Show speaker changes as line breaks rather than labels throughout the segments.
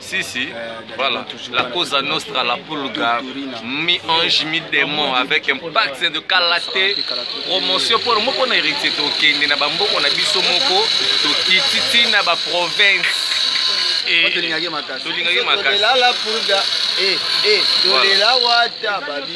Si, si, euh, voilà. La cosa nostra, la pulga, mi-ange, mi-démon, avec un pacte de kalaté, promotion pour moko na héritier tokende na bamboko na biso moko tokiti ti na baprovince
tolingaki makasi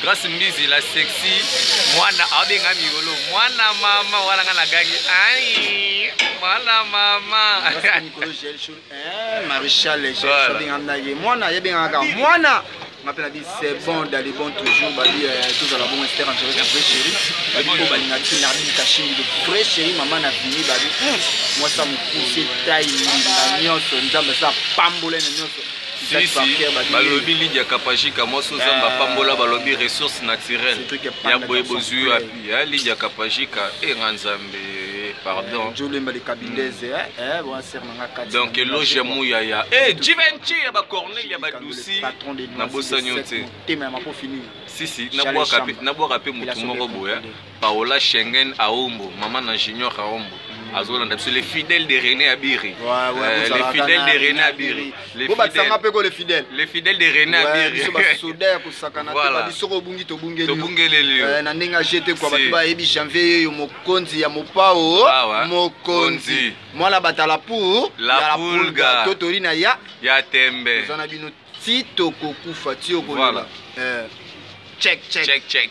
Grace Mbizi la sexy mwana abenga migolo mwana mama wana nga nagangi ai mwana mama eh,
Maréchal abenga na ye mwana ye benga kaka mwana nga mpe nabi c'est bon dali bon toujours babi euh, tozala bongo ester angeles ya vrai chéri babi mpo balinga ti nardi kashimi de vrai chéri mama na bini babi hmm, mwasa mokuse tai mbinga nyonso nzambe asa pambola na nyonso sisi balobi lidia
kapajika mwasi ozamba ah. pambola balobi ressource naturelle ya boye bozwi wapi ya lidia kapajika enga eh, nzambe eh, pardon eh, donc eloge ya muyaya e jivenci ya bacornel ya badusi nabosani yo te sisi nabwaka mpe motu moko boya Paola Schengen Aombo, maman na Junior Aombo. azolanda biso les fidèles de René Abiri euh, les fidèles de René Abiri
les fidèles les
fidèles de René Abiri biso basoda ya kosakana
te babi soko obungi tobungeli tobungeleli yo euh, na ndenge ajete kwa bato bayebi janvier yeyo mokonzi ya mopao ah mokonzi mwana batala pour la pulga
totori na ya
ya tembe oza na bino ti tokokufa ti okolela eh. check check check check